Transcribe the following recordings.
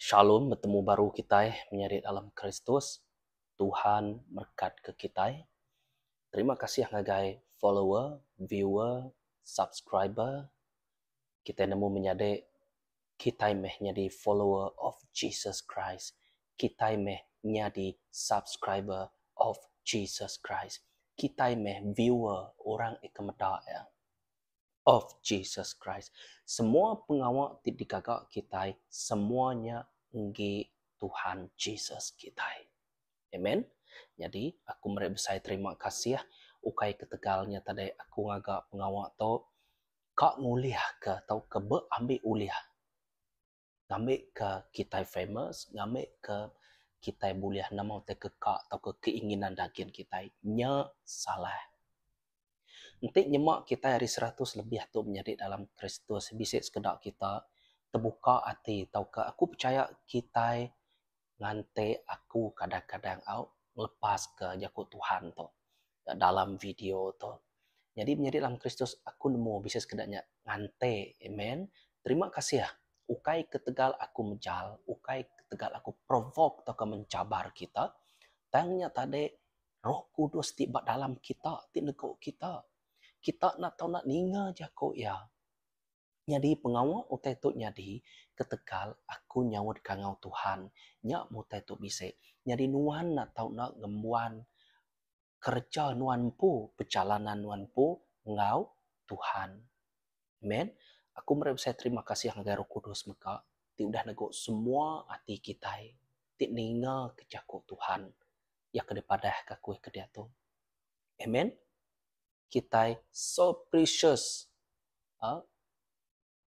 Shalom betemu baru kitai menyadi dalam Kristus. Tuhan merekatka kitai. Terima kasih ngagai follower, viewer, subscriber kitai nemu menyadi kitai meh nyadi follower of Jesus Christ, kitai meh nyadi subscriber of Jesus Christ, kitai meh viewer orang eka meda iya of Jesus Christ. Semua pengawa ti digaga kitai semua nya enggi Tuhan Jesus kitai. Amen. Nyadi aku meri besai terima kasih ukai ketegal nya tadai aku ngaga pengawa tu. ka ngulihka tauka ba ambi ulih ngambika kitai famous ngambika kitai bulih nemu tai ka ka tauka keinginan dagin kitai nya salah. Enti nyema kitai ari seratus lebih tu menyadi dalam Kristus bisi sekeda kita tebuka ati tauka aku pechaya kitai ngante aku kadang-kadang au ngelepaska jaku Tuhan tu dalam video tu. Nyadi menyadi dalam Kristus aku nemu bisi sekeda nya ngante. Amen. Terima kasih ukai ketegal aku mejal, ukai ketegal aku provoke tauka mencabar kita, tang nya tadi Roh Kudus ti ba dalam kita ti negu kita. Kita enda tau ninga jaku iya. Nyadi pengawa utai tu nyadi ketegal aku nyaut kangau Tuhan. Nya mutai tu bisi nyadi nuan enda tau enda ngembuan kereja nuan empu, pejalanan nuan empu enggau Tuhan. Amen. Aku meri besai terima kasih ngagai Roh Kudus mega ti udah nego semua ati kitai ti ninga ke jaku Tuhan. Iya ke dipadahka aku ke diatu. Amen. kitai so precious uhh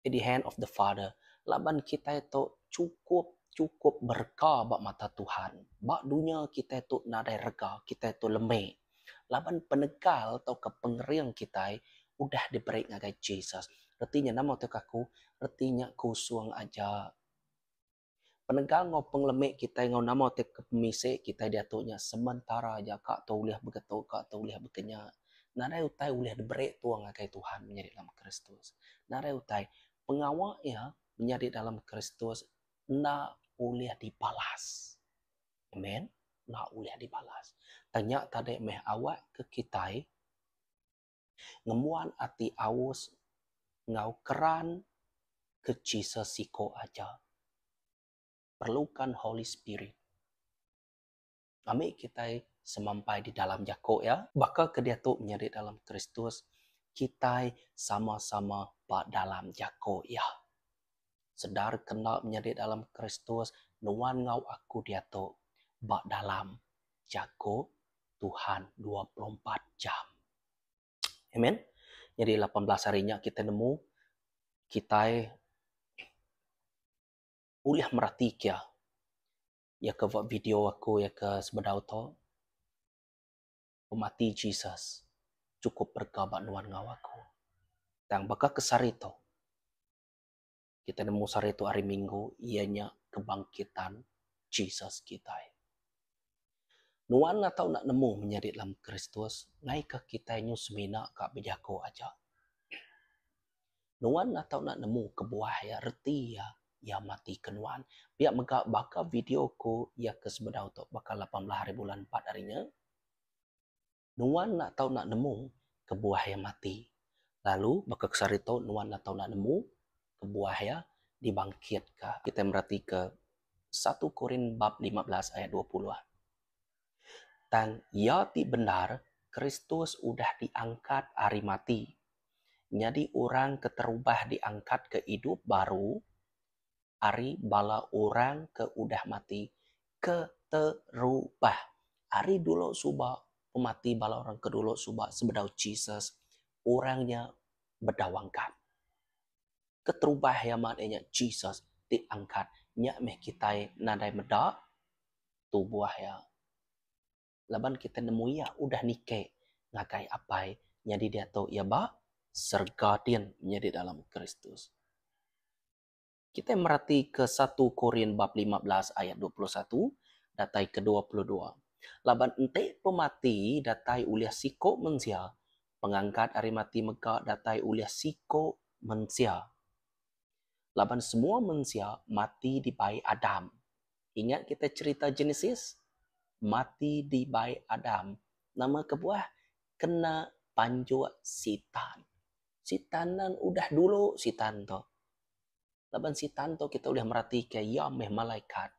at the hand of the Father laban kitai tu chukup chukup berega ba mata Tuhan. Ba dunya kitai tu nadai rega, kitai tu lemi laban penegal tauka pengering kitai udah diberi ngagai Jesus. Reti nya nama tauka aku? Reti nya kusung aja. Penegal enggau pengelemi kitai enggau nama ti ke pemisi kitai diatu nya sementara aja ka tu ulih begetu ka tu ulih bekenya. Nadai utai ulih diberi tua ngagai Tuhan menyadi dalam Kristus. Nadai utai pengawa iya menyadi dalam Kristus enda ulih dibalas. Amen. Enda ulih dibalas. Tang nya tadi meh awak ke kitai. ngembuan ati aus enggau keran ke chi sesiko aja. Perlukan Holy Spirit ambi kitai semampai di dalam jako iya. Baka ke diatu menyadi di dalam Kristus, kitai sama-sama ba dalam jako iya. Sedar ke enda menyadi dalam Kristus, nuan enggau aku diatu ba dalam jako Tuhan dua puluh empat jam. Amen. Nyadi lapan belas hari nya kita nemu kitai ulih merati kia ya ke buat video aku ya ke sebedau tu pemati Jesus cukup rega ba nuan enggau aku. Tang baka ke sehari tu kita nemu sehari tu hari minggu iya nya kebangkitan Jesus kitai. Nuan atau enda nemu menyadi dalam Kristus ngaika kitai nyu semina ka bejaku aja. Nuan atau enda nemu kebuah iya reti iya iya matika nuan. Pia mega baka video ku iya ke sebedau tu baka lapan belas hari bulan empat hari nya. Nuan enda tau enda nemu kebuah iya mati, lalu baka ke sehari tu nuan enda tau enda nemu kebuah iya dibangkitka. Kitai meratika satu Korin bab lima belas ayat dua puluh. Tang iya ti bendar, Kristus udah diangkat ari mati. Nyadi orang ke terubah diangkatka idup baru. ari bala orang ke udah mati keterubah. Ari dulu suba pemati bala orang ke dulu suba sebedau Jesus, orang nya bedauangkat. Keterubah iya mat iya nya Jesus ti angkat. Nya meh kitai nadai meda tubuh iya. laban kita nemu iya udah nike ngagai Apai nyadi diatu iya ba serega din menyadi dalam Kristus. Kita meratika satu Korin bab lima belas ayat dua puluh satu datai ke dua puluh dua. Laban enti pemati datai ulih siku mensia, pengangkat ari mati mega datai ulih siku mensia. Laban semua mensia mati dibai Adam. Ingat kita cherita Genesis? Mati dibai Adam. Nama kebuah? Kena panjuk Sitan. Sitan nan udah dulu Sitan tu. Laban Sitan tu kita ulih meratika iya meh malaikat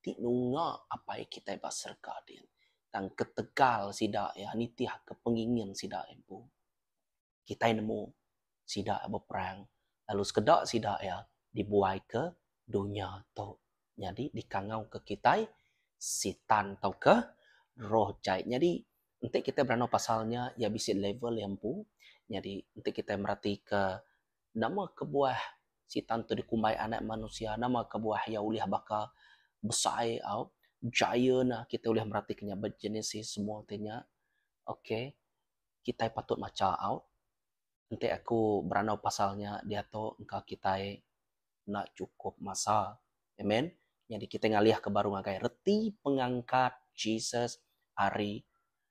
ti nunga Apai kitai ba serega din. Tang ketegal sida iya nitihka pengingin sida empu. kitai nemu sida beperang lalu sekeda sida iya dibuaika dunya tu nyadi dikangauka kitai sitan tauka roh jai. Nyadi enti kitai beranau pasal nya iya bisi level iya empu nyadi enti kitai meratika nama kebuah sitan tu dikumbai anak manusia nama kebuah iya ulih baka besai au giant kitai ulih meratika nya ba Genesis semua ti nya. Okay. kitai patut macha aut enti aku berandau pasal nya diatu engka kitai enda chukup masa. Amen. Nyadi kitai ngalihka baru ngagai reti pengangkat Jesus ari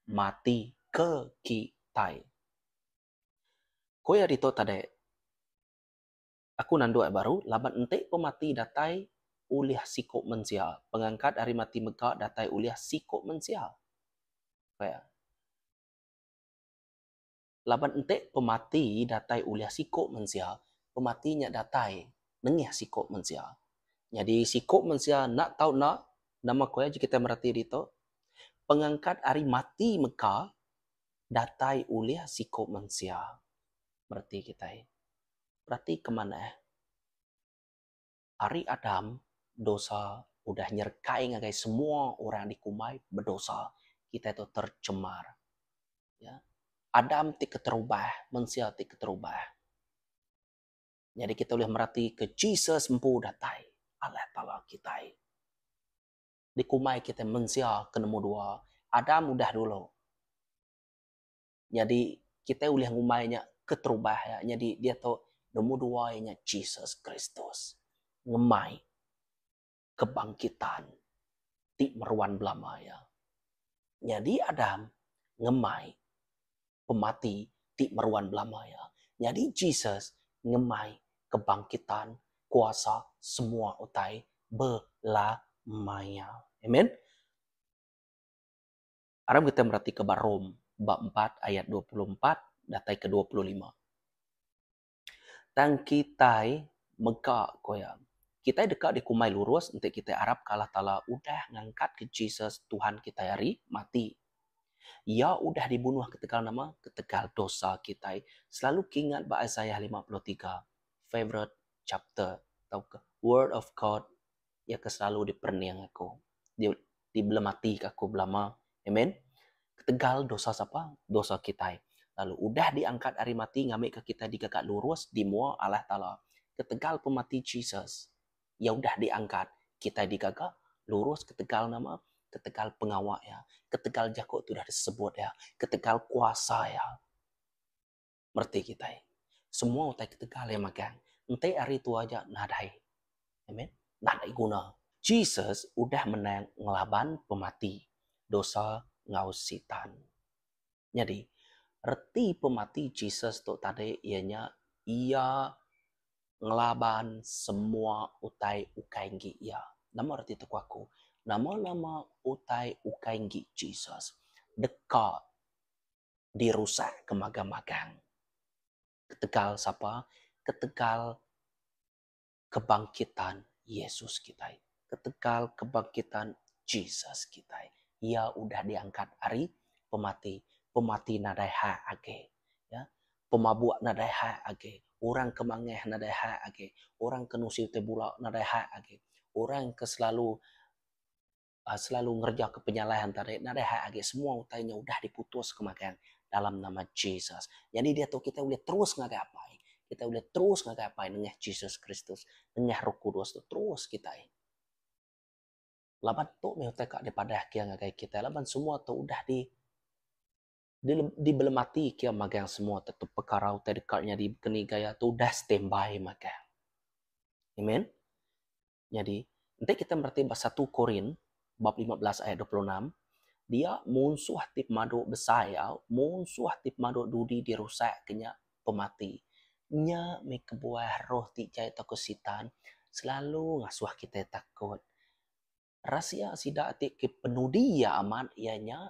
mati ke kitai. Ko iya ditu tadi, Aku nanduh iya baru laban enti pemati datai ulih siku mensia, pengangkat ari mati mega datai ulih siku mensia. Ko iya. Laban enti pemati datai ulih siku mensia, pemati nya datai nengih siku mensia. Nyadi siku mensia enda tau enda, nama ko iya ji kitai mereti ditu? Pengangkat ari mati mega datai ulih siku mensia. Mereti kitai. Perati keman eh. Ari Adam, dosa udah nyerekai ngagai semua orang dikumbai bedosa. Kitai tu tercemar. Ya. Adam ti keterubah, mensia ti keterubah. Nyadi kitai ulih meratika Jesus empu datai, Allah Taala kitai. Dikumbai kitai mensia ke nombor dua. Adam udah dulu. Nyadi kitai ulih ngumbai nya keterubah iya. Nyadi diatu nombor dua iya nya Jesus Kristus ngemai kebangkitan ti meruan belama iya. Nyadi Adam ngemai pemati ti meruan belama iya. Nyadi Jesus ngemai kebangkitan kuasa semua utai belama iya. Amen. Aram kita meratika ba Rom bab empat ayat dua puluh empat datai ke dua puluh lima. Tang kitai mega ko iya, kitai deka dikumbai lurus enti kitai arapka Allah Taala udah ngangkatka Jesus, Tuhan kitai ari, mati. Iya udah dibunuh ketegal nama? Ketegal dosa kitai. Selalu kingat ba Isaiah lima puluh tiga, favorite chapter tauka Word of God Iya ke selalu diperening aku, dibelematika aku belama. Amen. Ketegal dosa sapa? Dosa kitai. Lalu udah diangkat ari mati ngambika kitai dikaka lurus di mua Allah Taala. Ketegal pemati Jesus, iya udah diangkat, kitai dikaka lurus ketegal nama? Ketegal pengawa iya, ketegal jaku ti udah disebut iya, ketegal kuasa iya. mereti kitai. Semua utai ketegal iya magang enti ari tua aja nadai. Amen. Nadai guna. Jesus udah menang ngelaban pemati, dosa enggau Sitan. Nyadi, reti pemati Jesus tu tadi iya nya iya ngelaban semua utai ukai enggi iya. Nama reti tu ku aku? Nama-nama utai ukai enggi Jesus deka dirusak ke magang-magang. Ketegal sapa? Ketegal kebangkitan Yesus kitai. Ketegal kebangkitan Jesus kitai. Iya udah diangkat ari pemati. Pemati nadai hak agi. Pemabuk nadai hak agi. Orang ke mangah nadai hak agi. Orang ke nusi utai bula nadai hak agi. Orang ke selalu selalu ngerejaka penyalah antara diri nadai hak agi semua utai nya udah diputuska magang dalam nama Jesus. Nyadi diatu kitai ulih terus ngagai Apai. Kitai ulih terus ngagai Apai nengah Jesus Kristus, nengah Roh Kudus tu terus kitai. Laban tu meh utai ka dipadah kia ngagai kitai laban semua tu udah di dibelematika kia magang semua tu pekara utai deka nyadi keni gaya tu udah standby magang. Amen. Nyadi, enti kita mereti ba satu Korin bab lima belas ayat dua puluh enam, dia munsuh ti pemadu besai au munsuh ti pemadu dudi dirusak ke nya pemati. Nya mih kebuah roh ti jai tauka Sitan selalu ngasuh kita takut. Rasia sida ti ke penudi iya amat iya nya.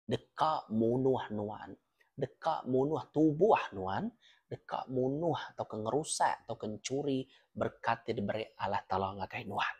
deka munuh nuan, deka munuh tubuh nuan, deka munuh tauka ngerusak tauka nchuri berkat ti diberi Allah Taala ngagai nuan.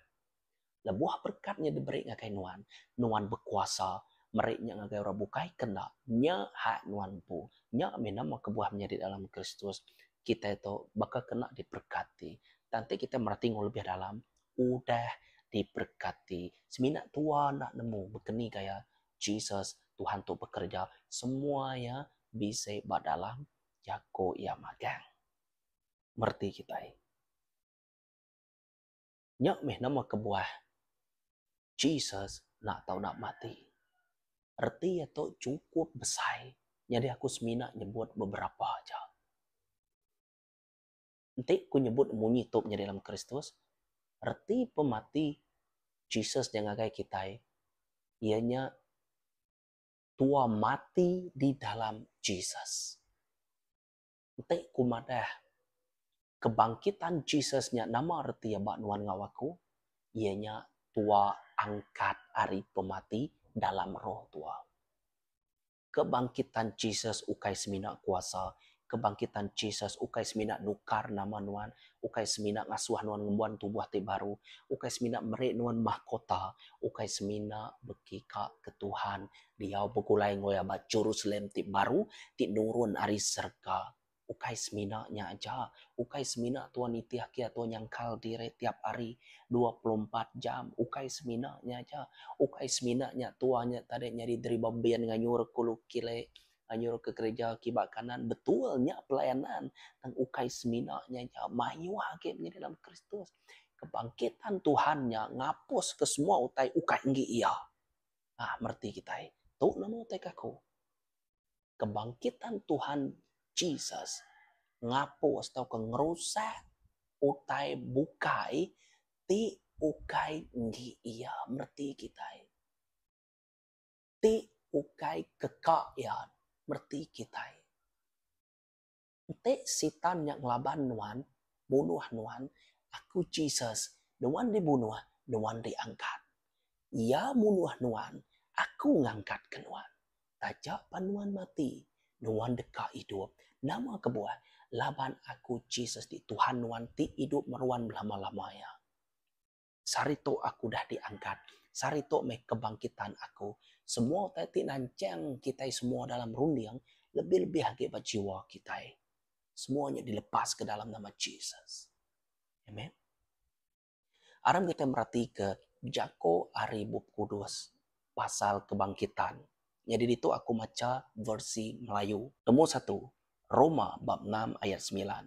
Lebuh berkat nya diberi ngagai nuan, nuan bekuasa meri nya ngagai orang bukai ke enda. Nya hak nuan empu. Nya mina meh kebuah menyadi dalam Kristus, kitai tu baka ke enda diberekati. Tang enti kitai mera tingu lebih dalam, udah diberekati. Semina tua enda nemu baka ni gaya Jesus, Tuhan tu bekereja semua iya bisi ba dalam jaku iya magang. Mereti kitai. Nya mih nama kebuah Jesus enda tau nak mati. Reti iya tu chukup besai nyadi aku semina nyebut beberapa aja. Enti ku nyebut munyi tu menyadi dalam Kristus, reti pemati Jesus nya ngagai kitai iya nya tua mati di dalam Jesus. Enti ku madah kebangkitan Jesus nya nama reti iya ba nuan enggau aku, iya nya tua angkat ari pemati dalam roh tua. Kebangkitan Jesus ukai semina kuasa. Kebangkitan Jesus ukai semina nukar nama nuan, ukai semina ngasuh nuan ngembuan tubuh ti baru, ukai semina meri nuan mahkota, ukai semina beki ka ke Tuhan diau begulai enggoi aba Jerusalem ti baru ti nurun ari serega. Ukai semina nya aja, ukai semina tua nitih kia tua nyangkal diri tiap hari dua puluh empat jam. Ukai semina nya aja, ukai semina nya tua nya tadi nyadi deriba bin nganyur ke ulu kiri, nganyur ke gereja ke iba kanan. Betul, nya pelayanan. Tang ukai semina nya aja, mayuh agi menyadi dalam Kristus. Kebangkitan Tuhan nya ngapuska semua utai ukai enggi iya. Nah, mereti kitai. Tu nama utai ke aku. kebangkitan Tuhan Jesus ngapus tauka ngerusak utai bukai ti ukai enggi iya mereti kitai. Ti ukai keka iya mereti kitai. Enti Sitan nya ngelaban nuan, munuh nuan, aku Jesus, nuan dibunuh, nuan diangkat. Iya munuh nuan, aku ngangkatka nuan. Taja pan nuan mati, nuan deka idup. Nama kebuah? Laban aku Jesus di Tuhan nuan ti idup meruan belama-lama iya. Sehari tu aku udah diangkat. Sehari tu meh kebangkitan aku. Semua utai ti nanchang kitai semua dalam runding, lebih-lebih agi ba jiwa kitai. Semua nya dilepaska dalam nama Jesus. Amen. Aram kitai meratika jako ari Bup Kudus pasal kebangkitan. Nyadi ditu aku macha versi Melayu. Tembu satu, Roma bab enam ayat semilan.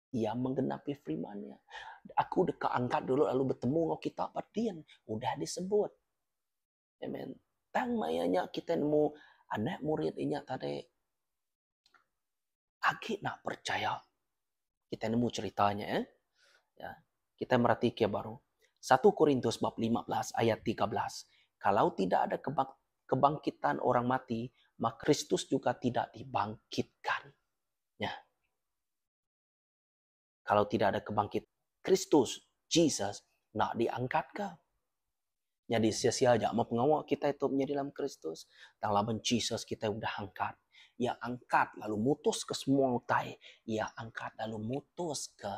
Iya menggenapi firman iya. Aku deka angkat dulu lalu bertemu enggau kita ba din. Udah disebut. Amen. Tang maya nya kita nemu anak murid inya tadi agi nak percaya. Kita nemu ceritanya eh. Ya. Kita merati ke baru. 1 Korintus bab 15 ayat 13. Kalau tidak ada kebangkitan orang mati, maka Kristus juga tidak dibangkitkan. Ya. Kalau tidak ada kebangkit Kristus, Jesus, nak diangkat ke? Jadi sia-sia aja mau pengawa kita itu menjadi dalam Kristus. Tang laban Jesus kita udah angkat. Ia angkat lalu mutus ke semua utai. Ia angkat lalu mutus ke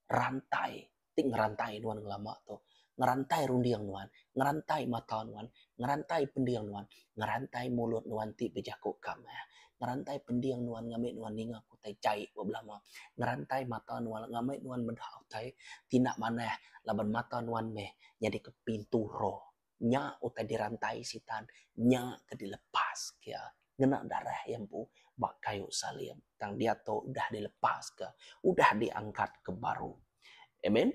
rantai ti ngerantai nuan ngelama tu, ngerantai runding nuan, ngerantai mata nuan, ngerantai pending nuan, ngerantai mulut nuan ti bejaku ka meh, ngerantai pending nuan ngambi nuan ninga ke utai jai ba belama, ngerantai mata nuan ngambi nuan meda utai ti enda manah laban mata nuan meh nyadika pintu roh. nya utai dirantai sitan nya ke dilepas ke iya ngena darah iya empu ba kayu salib tang diatu udah dilepas ke udah diangkat ke baru. Amen.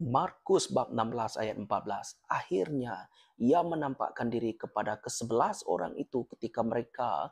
Markus bab enam belas ayat empat belas akhirnya iya menampakkan diri kepada kesebelas orang itu ketika mereka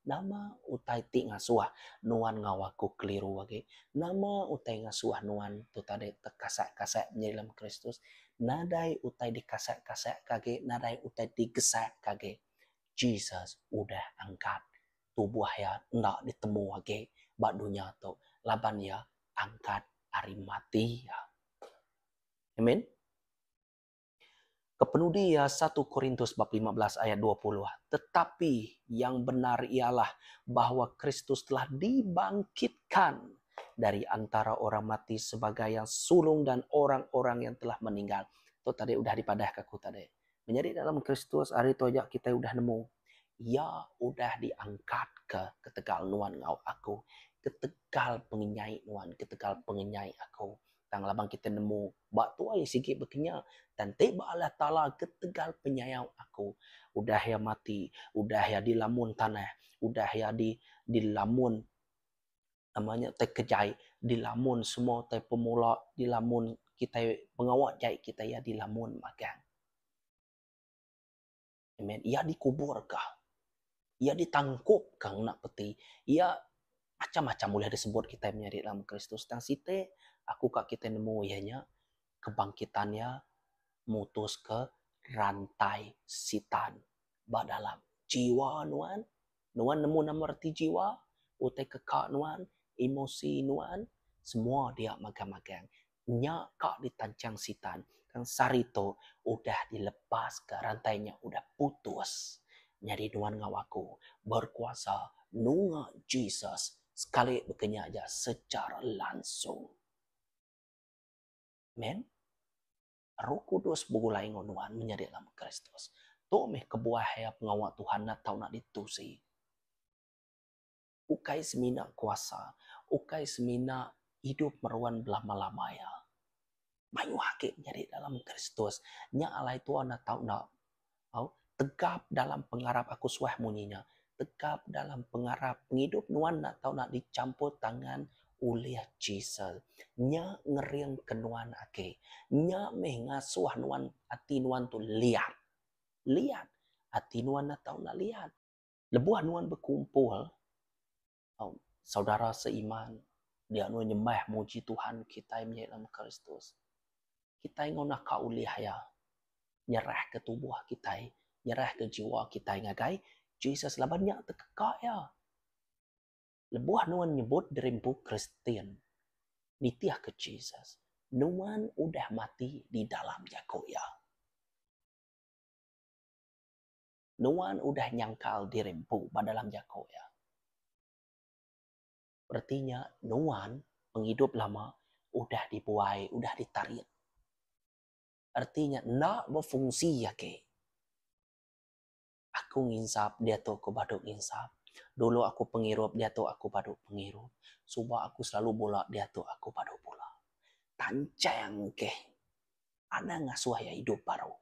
Nama utai ti ngasuh nuan enggau aku keliru agi? Nama utai ngasuh nuan tu tadi tekasek-kasek nyadi lem Kristus? Nadai utai dikasek-kasekka agi, nadai utai digesekka agi. Jesus udah angkat. Tubuh iya enda ditemu agi ba dunya tu laban iya angkat ari mati. Amen. Kepenudi iya satu Korintus bab lima belas ayat dua puluh Tetapi yang benar ialah bahwa Kristus telah dibangkitkan dari antara orang mati sebagai yang sulung dan orang-orang yang telah meninggal. Tu tadi udah dipadahka aku tadi. Menyadi dalam Kristus hari tu aja kita udah nemu. Iya udah diangkat ke ketegal nuan enggau aku. Ketegal pengenyai nuan, ketegal pengenyai aku. Tang laban kita nemu ba tuai sigi bekenya dan ti ba alah taala ketegal penyayau aku udah ia mati udah ia dilamun tanah udah ia di dilamun nama nya tai kejai dilamun semua tai pemula dilamun kitai pengawa jai kitai ia dilamun magang. Amen. Iya dikuburka. Iya ditangkupka ngena peti. Iya macam-macam ulih disebut kitai menyadi dalam Kristus. Tang siti aku ka kitai nemu iya nya kebangkitan iya mutuska rantai Sitan ba dalam jiwa nuan. Nuan nemu nama reti jiwa, utai keka nuan, emosi nuan, semua dia magang-magang. Nya ka ditanchang Sitan. Tang sehari tu udah dilepas ka rantai nya udah putus. Nyadi nuan enggau aku berkuasa nunga Jesus sekali baka nya aja secara langsung. Amen. Roh Kudus begulai enggau nuan menyadi lama Kristus. Tu meh kebuah iya pengawa Tuhan enda tau nak ditusi. Ukai semina kuasa, ukai semina idup meruan belama-lama iya. Mayuh agi menyadi dalam Kristus nya alai tua enda tau enda Au, tegap dalam pengarap aku suah munyi nya. Tegap dalam pengarap pengidup nuan enda tau nak dichampur tangan ulih chisel. Nya ngeringka nuan agi. Nya meh ngasuh nuan ati nuan tu liat. Liat. Ati nuan enda tau nak liat. Lebuh nuan bekumpul, Au, saudara seiman, dianu nyembah muji Tuhan kitai meh dalam Kristus. Kitai enggau naka ulih iya nyerahka tubuh kitai, nyerahka jiwa kitai ngagai Jesus laban nya tekeka iya. Lebuh nuan nyebut diri empu Kristian, nitihka Jesus, nuan udah mati di dalam jaku iya. Nuan udah nyangkal diri empu ba dalam jaku Iya. Reti nya, nuan pengidup lama udah dibuai, udah ditarit. Reti nya, enda befungsi agi. Aku nginsap diatu aku badu nginsap. Dulu aku pengirup diatu aku badu pengirup. Suba aku selalu bula diatu aku badu bula. Tanchang keh. anang ngasuh iya idup baru.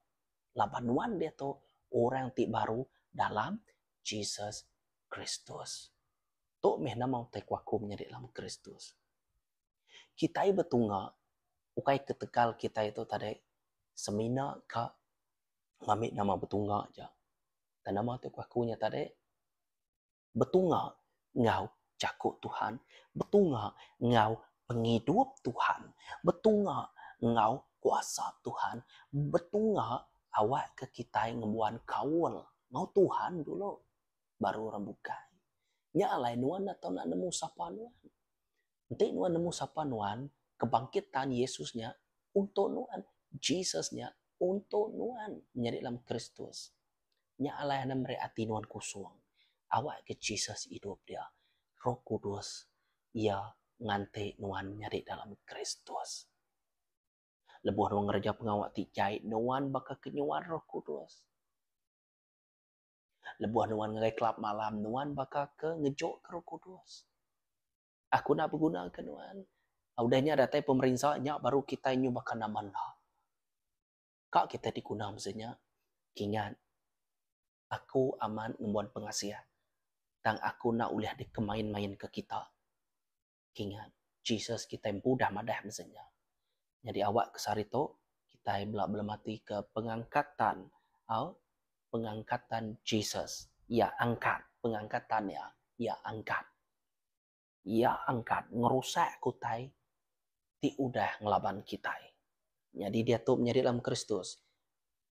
Laban nuan diatu orang ti baru dalam Jesus Kristus. Tu meh nama utai ku aku menyadi dalam Kristus. Kitai betunga ukai ketegal kitai tu tadai semina ka ngambi nama betunga aja. Tang nama tu ku aku nya tadi. betunga enggau Jaku Tuhan, betunga enggau pengidup Tuhan, betunga enggau kuasa Tuhan, betunga awakka kitai ngembuan kaul enggau Tuhan dulu baru orang bukai. Nya alai nuan enda tau nemu sapa nuan. Enti nuan nemu sapa nuan ke bangkit ta'an Yesus nya unto nuan, Jesus nya unto nuan menyadi dalam Kristus. Nya alai enda meri ati nuan kusung. Awak ke Jesus idup dia, Roh Kudus Iya nganti nuan nyadi dalam Kristus. Lebuh nuan ngereja pengawa ti jai, nuan baka ke nyual Roh Kudus. Lebuh nuan ngagai kelab malam, nuan baka ke ngejokka Roh Kudus. Aku enda beguna ke nuan. Udah nya datai pemerinsa nya baru kitai nyu baka nama enda. Ka kitai diguna masa nya. Kingat aku amat ngembuan pengasih tang aku enda ulih dikemain-mainka kita. Kingat Jesus kitai empu udah madah masa nya. Nyadi awak ke sehari tu kitai bela belematika pengangkatan au pengangkatan Jesus. Iya angkat pengangkatan iya. Iya angkat. Iya angkat ngerusak kutai ti udah ngelaban kitai. Nyadi diatu menyadi dalam Kristus,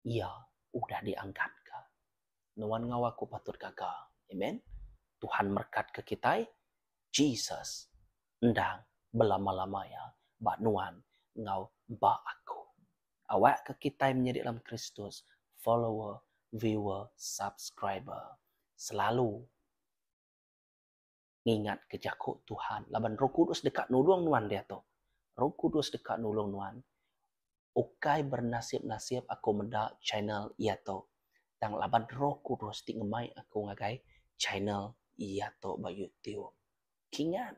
iya udah diangkatka. Nuan enggau aku patut gaga. Amen. Tuhan merekatka kitai. Jesus endang belama-lama iya ba nuan enggau ba aku. Awakka kitai menyadi dalam Kristus follower, viewer, subscriber selalu. ngingatka jaku Tuhan laban Roh Kudus deka nulung nuan diatu. Roh Kudus deka nulung nuan ukai bernasib-nasib aku meda channel iya tu, tang laban Roh Kudus ti ngemai aku ngagai channel iya tu ba YouTube. Kingat.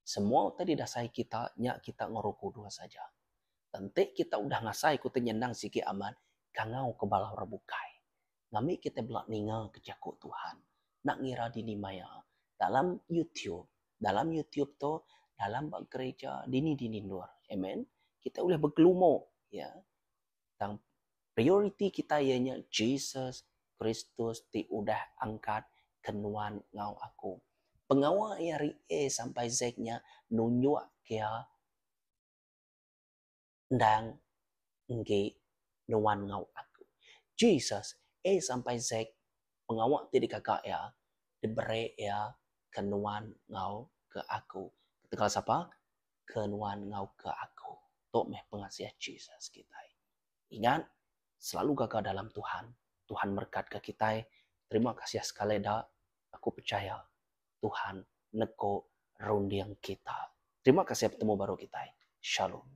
Semua utai didasai kita nya kita ngoro kudus aja. Tenti kita udah ngasai ku tenyenang sigi amat kangau ke bala orang bukai. Ngambi kita bela ninga ke jaku Tuhan. Enda ngira dini maya dalam YouTube, dalam YouTube tu, dalam ba gereja, dini-dini endur. Amen. Kita ulih begelumu, ya. tang prioriti kitai iya nya Jesus Kristus ti udah angkat ke nuan enggau aku. Pengawa iya ari A sampai Z nya nunjuk kira endang enggi nuan enggau aku. Jesus A sampai Z pengawa ti digaga iya diberi iya ke nuan enggau ke aku. Ketegal sapa? ke nuan enggau ke aku. Tu meh pengasih Jesus kitai. Ingat, selalu gaga dalam Tuhan. Tuhan merekatka kitai. Terima kasih sekali da. Aku pechaya Tuhan neko runding kita. Terima kasih betemu baru kitai. Shalom.